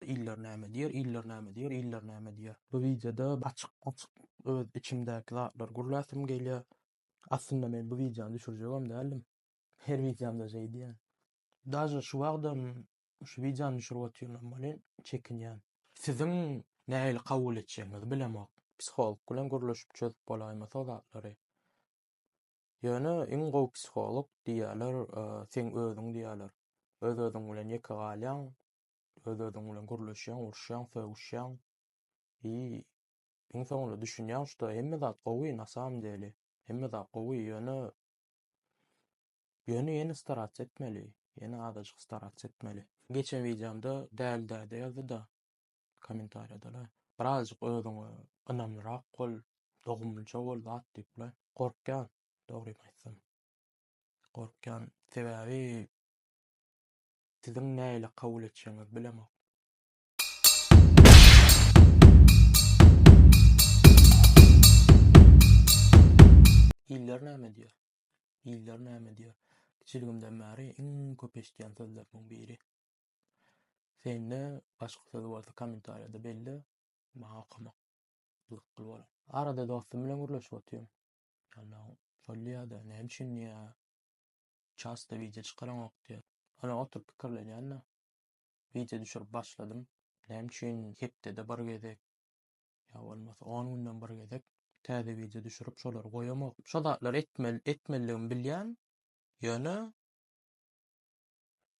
Iller näme diýer, iller näme diýer, iller näme diýer. Bu wideoda açyk açyk öz içimdäki zatlary gürläsim gelýär. Aslynda men bu wideony düşürjegem däldim. Her wideomda şeýdýän. Daže şu wagtam şu wideony düşürip otyrynam welin çekinýän. Siziň nähili kabul etjegiňizi bilemok. Psiholog bilen gürleşip çözüp bolaýmasy o zatlary. Ýöne iň gowy psiholog diýýärler seň özüň diýýärler. Öz özüň bilen ýeke galýaň. Öz-özüň bilen gürleşýäň, uruşýaň, sögüşýäň. I iň soňunda düşünýäň, şda hemme zat gowy na samym deli. Hemme zat gowy, ýöne ýöne ýene starats etmeli, ýene azajyk starats etmeli. Geçen wideomda däli däde ýazdy-da kommentariýada-la, birazajyk özüňe ynamlyrak bol, dogumlyja bol zat diýip-le. Gorkýan, dogrymy aýtsam. Gorkýan, sebäbi Siziň näyle kabul etjegiňizi bilemok. Ilder näme diýer? Ilder näme diýer? Kiçiligimden bäri iň köp eşidýän sözlerimiň biri. Sende başga söz bolsa kommentariýada belle, maňa okamak gyzykly bolar. Arada dostum bilen gürleşip otyryn. Ýagny şol diýýär-de, näme üçin diýýär? Çasto wideo çykaranok diýer. Ýöne oturyp pikirlenýän-de. Wideo düşürip başladym. Näme üçin hepdede bir gezek ýa bolmasa on günden bir gezek täze wideo düşürip şolary goýamok. Şo zatlary etmeli etmelidigimi bilýän. Ýöne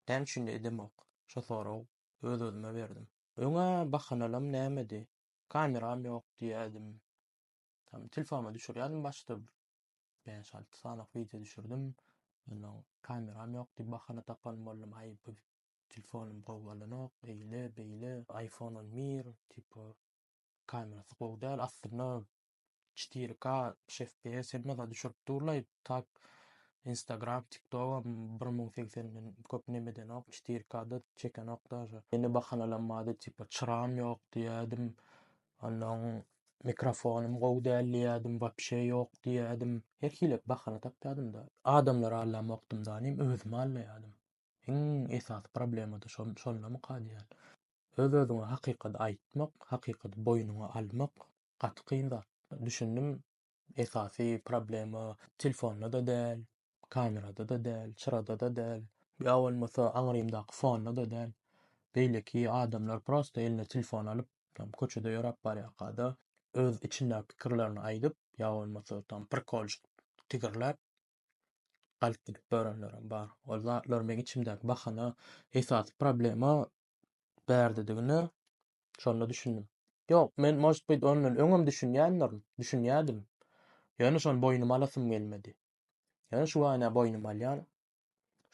näme üçin-de edemok. Şo sorag öz-özüme berdim. Öňe bahanalam nämedi? Kameram ýok diýýädim. Tam telefonuma düşürýärdim başda bäş alty sanylyk wideo düşürdim. Ondan kameram ýokdy, bahana tapan boldum, aý bu telefonym gowy bolanok, eýle, beýle, iPhone on bir, tipo, kamerasy gowy däl, aslynda çetiri ka, üç FPS hemme zat düşürip durlaý, tak Instagram, TikTok-am bir müň segsenden köp nem edenok, çetiri ka-da çekenok daža. Ýene bahanalanmady, tipo, çyragym ýok diýýärdim, Onda oň mikrofonym gowy däl diýýädim, wapşe ýok diýýädim. Her hili bahana tapýadym-da. Adamlary allamokdym da, nim özümi allaýadym. Iň esasy problema-da şol, şondamyka diýýän. Öz-özüňe hakykaty aýtmak, hakykaty boýnuňa almak gaty kyn zat. Düşündim, Esasy problema telefonda-da däl, kamerada-da däl, çyrada-da däl, ýa bolmasa aňrymdaky fonda-da däl. Beýleki adamlar prosta eline telefon alyp, tam köçede ýöräp barýarka-da, öz içindäki pikirlerini aýdyp, ýa bolmasa tam prikolşik tigirläp, galyp gidip ýörenlerem bar. Ol zatlar meň içimdäki bahana. Esasy problema bärdedigine şonda düşündim. Ýok, men most bit ondan öňem düşünýändirin, düşünýädim. Ýöne şony boýnuma alasym gelmedi. Ýöne şu wagtda boýnuma alýan.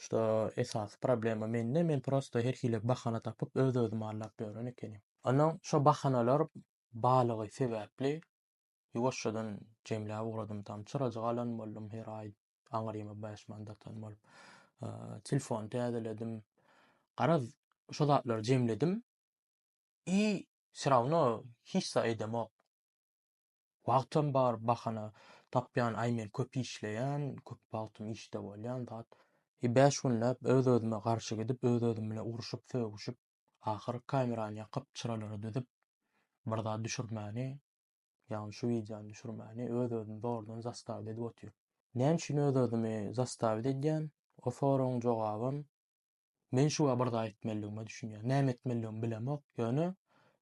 Şda esasy problema mende, men prosta her hili bahana tapyp öz-özümi aldap ýören ekenim. Ondan şo bahanalar balygy sebäpli ýuwaşjadan jemläp ugradym tam çyrajyk alan boldum her aý. aňryma bäş manat atan bolup. Telefony täzeledim. Garaz, şu zatlary jemledim. I şerawno hiç zat edemok. Wagtam bar, bahana tapýan, aý men köp işleýän, köp wagtym işde bolýan zat. I bäş günläp öz-özüme garşy gidip, öz-özüm bilen urşup, sögüşip, ahyr kamerany ýakyp, çyralary düzüp, bir zat düşürmäni Ýagny şu wideony düşürmäni öz özüni zordan zastavit edip otyr. Näme üçin öz özümi zastavit edýän? O soragyň jogabym men şu bir zat etmelidigime düşünýän. Näme etmelidigimi bilemok, ýöne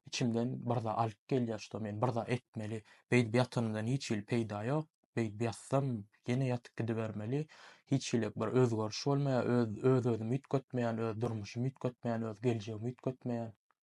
içimden bir zat alyp gelýär şo men bir zat etmeli. Beýdip ýatanymdan hiç hili peýda ýok. Beýdip ýatsam ýene ýatyp gidibermeli. Hiç hili bir özgeriş bolmaýar. Öz öz özümi üýtgetmeýän, öz durmuşymy üýtgetmeýän, öz geljegimi üýtgetmeýän.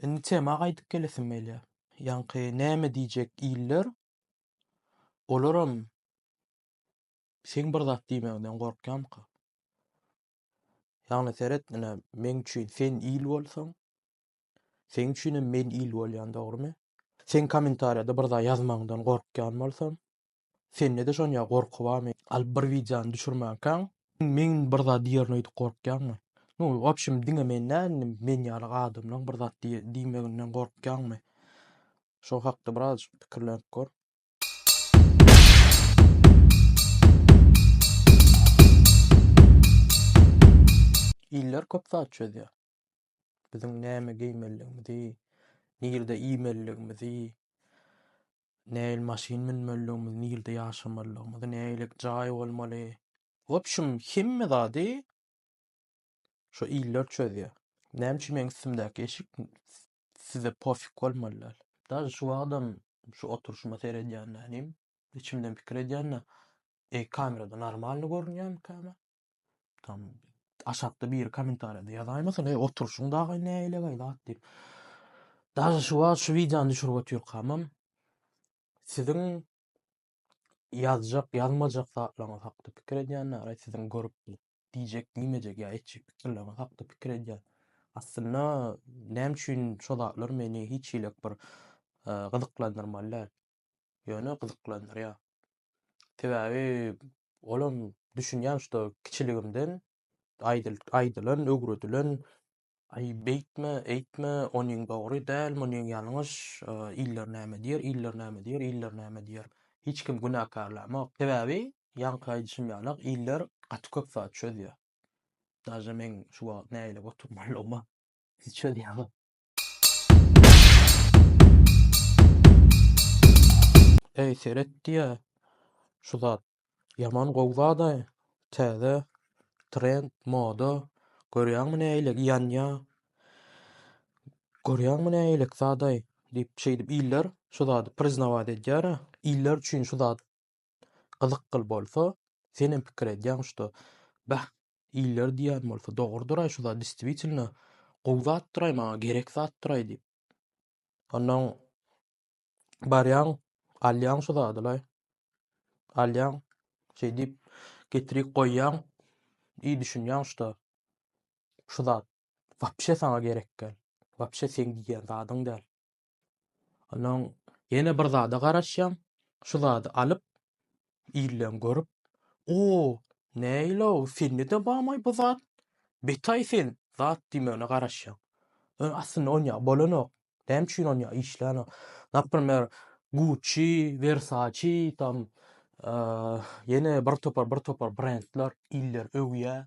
Indi tema gaýdyp gelesim gelýär. Ýaňky näme diýjek iller? Olaram seň bir zat diýmegiňden gorkýamyka? Ýagny seret, ine, meň üçin sen il bolsaň, seň üçinem men il bolýan, dogrymy? Seň kommentariýada bir zat ýazmagyňdan gorkýan bolsam, Sendede şon ýa gorky barmy? Al bir wideony düşürmänkaň. Meň bir zat diýerin öýdüp gorkýaňmy? Nu, wobşem diňe men däl indi men ýaly adamlaň bir zat diýmeginden gorkýaňmy? Şo hakda birazajyk pikirlenip gör. Iller köp zat çözýär. Biziň näme geýmeliligimizi, nirde iýmeliligimizi, nähili maşyn münmelidigimizi, nirde ýaşamalydygymyzy, nähililik jaý bolmaly, w opşum hemme zady şo iller çözýär. Näme üçin meň üstümdäki eşik size pofik bolmaly däl? Daşy şu wagtam şu oturyşyma seredýände inim, içimden pikir edýände, eý kamerada normalny görünýärmikäm men? Tam aşakda biri kommentariýada ýazaýmasyn, "Eý, oturşyň dagy nägilegaý zat" diýip. Daşy şu wagt şu wideony düşürip otyrkamam siziň ýazjak, ýazmajak zatlaryňyz hakda pikir edýän, näraý siziň görüp bilip diýjek, diýmejek ýa etjek pikirleriňiz hakda pikir edýän. Aslynda näme üçin şo zatlar meni hiç hilik bir gyzyklandyrmaly däl. ýöne gyzyklandyrýar. Sebäbi olam düşünýän şuda kiçiligimden aýdyl aýdylan, öwredilen aý beýtme, eýtme, onyň dogry däl, munyň ýalňyş, iller näme diýer, iller näme diýer, iller näme diýer. Hiç kim günäkärlämok. Sebäbi ýaňky aýdyşym ýalak iller gaty köp zat çözýär. Daže meň şu wagt nägile oturmalygyma siz çözýäňiz. Eý seret diýä şu zat ýaman gowy zadaý täze trend moda görýäňmi nägile ýanýa görýäňmi nägilelik zadaý diýip şeýdip iller şu zady priznawaýt edýärä iller üçin şu zat Gyzykgyl bolsa, Senem pikir edýäň şda, bäh, iller diýýän bolsa dogrudyr-aý şu zat, distwitilno, gowy zatdyr-aý, maňa gerek zatdyr-aý diýip. Onnoň barýaň, alýaň şu zady-laý. Alýaň, şeýdip, getirip goýýaň, i düşünýäň şda, şu zat wapşe saňa gerekgäl, wapşe seň diýýän zadyň däl. Ondan ýene bir zada garaşýan. Şu zady alyp, illeň görüp, O, näýilow, sende-de barmy bu zat? Betaý sen, zat diýmegine garaşýan. Ýöne aslynda on ýa bolanok. Näme üçin on ýa işlänok? Naprimer, Gucci, Versace, tam, ýene bir topar, bir topar brendler, iller öwýär.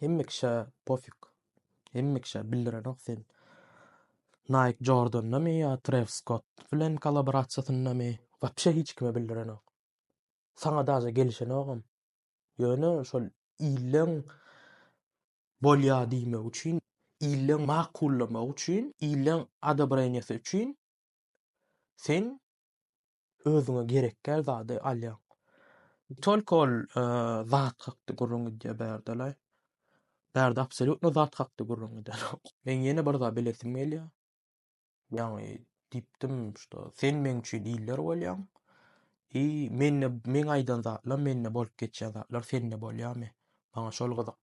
Hemme kişä pofik. Hemme kişä bildirenok sen. Nike Jordanda mi ya Travis Scott bilen kolaborasiýasynda mi? Wapşe hiç kime bildirenok. Sana daja gelişenogam. Ýöne şol illeň bolýa diýmek üçin, illeň makullamak üçin, illeň adobreniýasy üçin sen özüňe gerekgär zady alýaň. Tolko ol zat hakda gürrüň gidýär bärdele. Bärde absolýutno zat hakda gürrüň gidenok. Men ýene bir zat bilesim gelýär. Ýaňy diýipdim, şda sen meň üçin iller bolýaň. I mende meň aýdan zatlarim, mende bolup geçýän zatlar sende bolýarmy? Maňa şol gyzyk.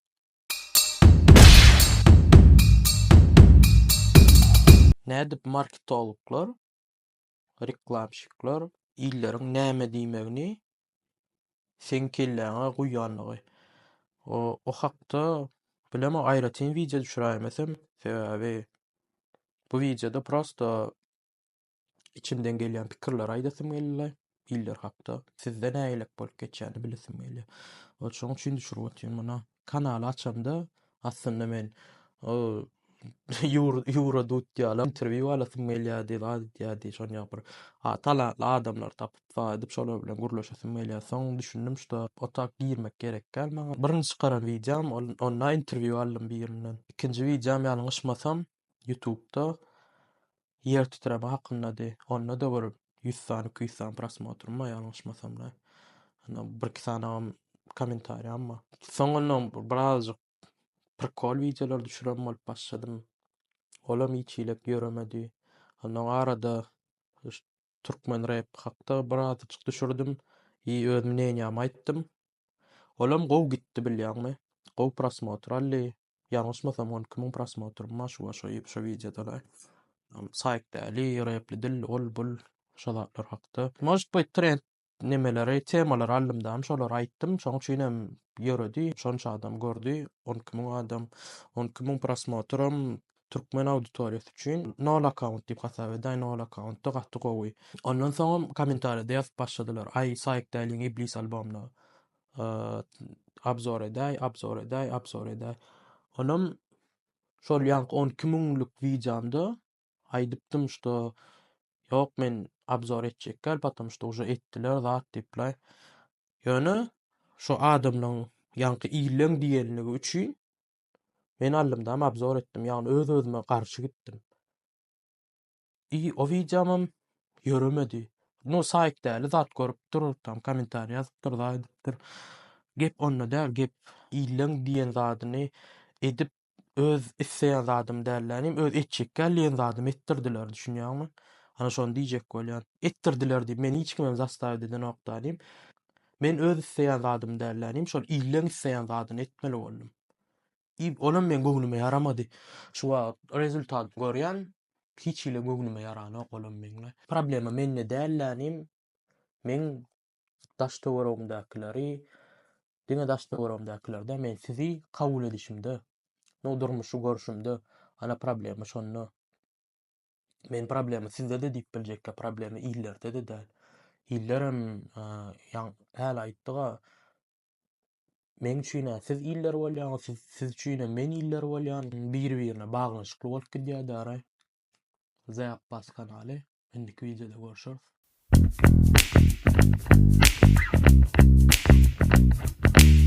Nädip marketologlar Reklamşyklar illeriň näme diýmegini seň kelläňe guýýanlygy. O o hakda bilemok aýratyn wideo düşüräýmesem, sebäbi bu wideoda prosta içimden gelýän pikirleri aýdasym geldi iller hakda. Sizde nähilek bolup geçýäni bilesim gelýär. Ol şoň üçin düşürip otyryn muny. Kanaly açamda aslynda men ýura dutýala interwýu alasym gelýärdi zat edýärdi şonýa bir talantly adamlar tapyp zat edip şolar bilen gürleşesim gelýär soň düşündim şuda o tak girmek gerek däl maňa birinji çykaran wideom onda interwýu aldym birinden ikinji wideom ýalňyşmasam Ýutubda ýer titreme hakyndady. Onda-da bir ýüz san, iki ýüz san prosmotrum bar ýalňyşmasam-da. Ýa birki sanam kommentariýam bar. Soňundan birazajyk prikol wideolar düşüren bolup başladym. Olam hiç hili ýöremedi. Ondan arada türkmen rep hakda birazajyk düşürdim i öz mneniýamy aýtdym. Olam gowy gitdi bilýäňmi. Gowy prosmotr aldy. Ýalňyşmasam on iki müň prosmotr ma şu şo şo wideodada. Saýk däli, repli dil, ol bul şo zatlar hakda. Может быть trend nemeleri temalary aldymdam şolary aýtdym şoň üçinem ýöredi şonça adam gördi on iki müň adam on iki müň prosmotram türkmen auditoriýasy üçin nol akkaunt diýip hasap edäý nol akkauntda gaty gowy ondan soňam kommentariýada ýazyp başladylar aý saýk däliň iblis albomyna abzor edäý, abzor edäý, abzor edäý. Onam şol ýanky 12 müňlük wideomda aýdypdym, şto ýok men abzor etjekkäl, potom şto uje etdiler zat diýipler. Ýöne şu adamlaryň ýanky illeň diýenligi üçin men allymdam abzor etdim, ýagny öz-özüme garşy gitdim. I o wideomam ýöremedi. No saýt däli zat görüp dur, tam kommentariý ýazypdyr, zat edipdir. Gep onda däl, gep illeň diýen zadyny edip öz isleýän zadym däl länim, öz etjek gel diýen zadymy etdirdiler, düşünýäňmi? Ana şony diýjek bolýan. Etdirdiler diýip, meni hiç kimem zastawit edenok dalim. Men öz isleýän zadym däl länim, şol illeň isleýän zadyny etmeli boldum. Iýip, olam meň göwnüme ýaramady. Şu wagt rezultat görýän, hiç hili göwnüme ýaranok olam meň. Problema mende däl-de inim. Meň daş-töweregimdäkileri, diňe daş-töweregimdäkiler däl, men sizi kabul edişimde, no durmuşy görşümde, ana problema şonda. Men problema sizde-de diýip biljekkä, problema illerde-de däl. Illerem ýa hälä aýtdyga, Meň üçin-ä siz iller bolýaňyz, siz, siz üçin-ä men iller bolýan, biri-birine baglanyşykly bolup gidýär dara. The Abbas kanaly. Indiki wideoda görüşeris.